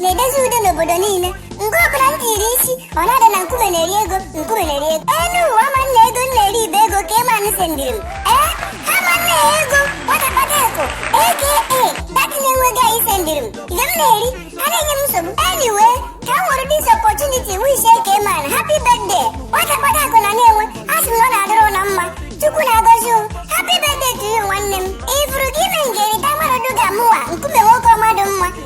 na-edozi udo n'obodo niile mgbe ọbụla m tiri isi ọ na-ada na nkume na-eri ego nkume na-eri ego elu ụwa ma na ego m na-eri ibe ego eke man sendiri m ee ha ma na ya ego nwata kpata akụ aka dat Nenwe guy sendiri m ihe m na-eri ha na-enye m nsogbu anyway ka m nwere this opportunity wish eke man happy birthday nwata kpata akụ na Nenwe a sị m na ọ na-adịrị ụnụ mma chukwu na-agọzi ụnụ happy birthday to you nwanne m ifuru gị ime m ga-erita mmadụ ga mụwa nkume nwoke ọma dị mma